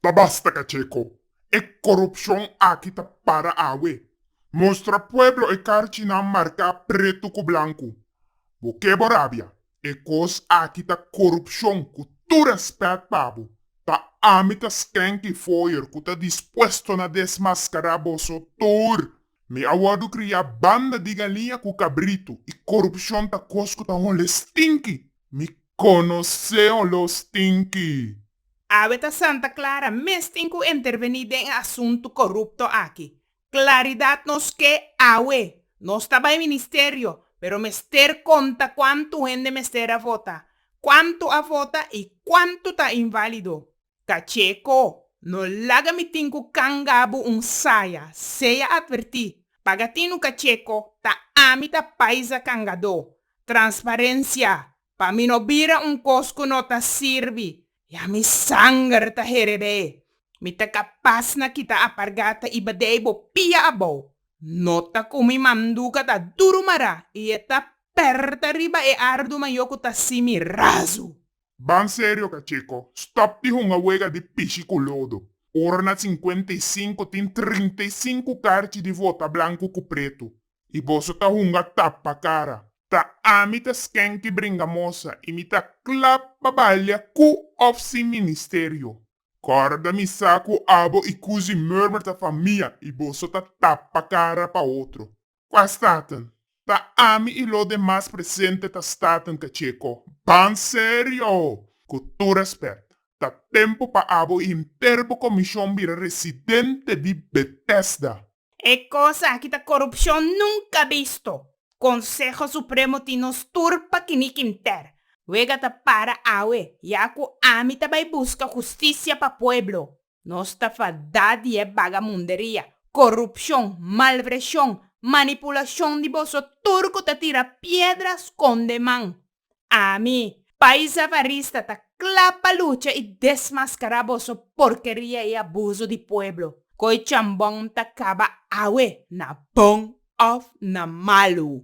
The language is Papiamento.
Ta basta cacheco. E corupcion aki ta para awe. Mostra pueblo e carchinan marca pretu cu blancu. Bo ke bo rabia. E cos aki ta corupcion cu tur respet pa bo. Ta ami ta Skanky Foyer cu ta dispuesto na desmascara boso tur. Mi a wòrdu kriá banda di galiña ku kabritu, i korupshon ta kos ku ta hole stinki. Mi konosé oló stinki. Awe ta Santa Clara mes tin ku intervení den e asuntu korupto aki. Klaridat nos ke awe. Nos ta bai ministerio, pero mester konta kuantu hende mester a vota, kuantu a vota i kuantu ta inválido. Cacheco, no laga mi tin cu canga bo un saya, sea adverti, paga tinu Cacheco, ta ami ta paisa cangado, transparencia, pa mi no bira un cos cu no ta sirbi, ya mi sanger ta herebe, mi ta capas na kita apargata y badei bo pia abou, nota cu mi manduca ta duru mara y e ta perta riba e ardu mayo cu ta simi razu. Ban serio ka Checo. Stop di hunga wega di pishi ku lodo. Ora na sinkuenta i sinku tin trinta i sinku karchi di vota blanku ku pretu. I boso ta hunga tapa kara. Ta ami ta skenki bringamosa i mi ta klap pa balia ku òf sin ministerio. Kòrda mi sa ku abo i kuzi murmur ta famia i boso ta tapa kara pa otro. Kua staten? Ta ami i lo demas presente ta staten cacheco. Ban serio! Cu tur respect, ta tempo pa abo inter bo comision bira residente di Bethesda. E cosa aki ta corupcion nunca bisto. Conseho Supremo tin nos tur pa kinic inter. Wega ta para awe, ya cu ami ta bay busca justicia pa pueblo. Nos ta fadá di e bagamunderia, korupshon, malvreshon, manipulashon di boso tur ku ta tira piedra skonde man. Ami, Pais Avarista, ta kla pa lucha i desmaskará boso porkeria i abuso di pueblo. Koe chambon ta kaba awe, na bon òf na malu.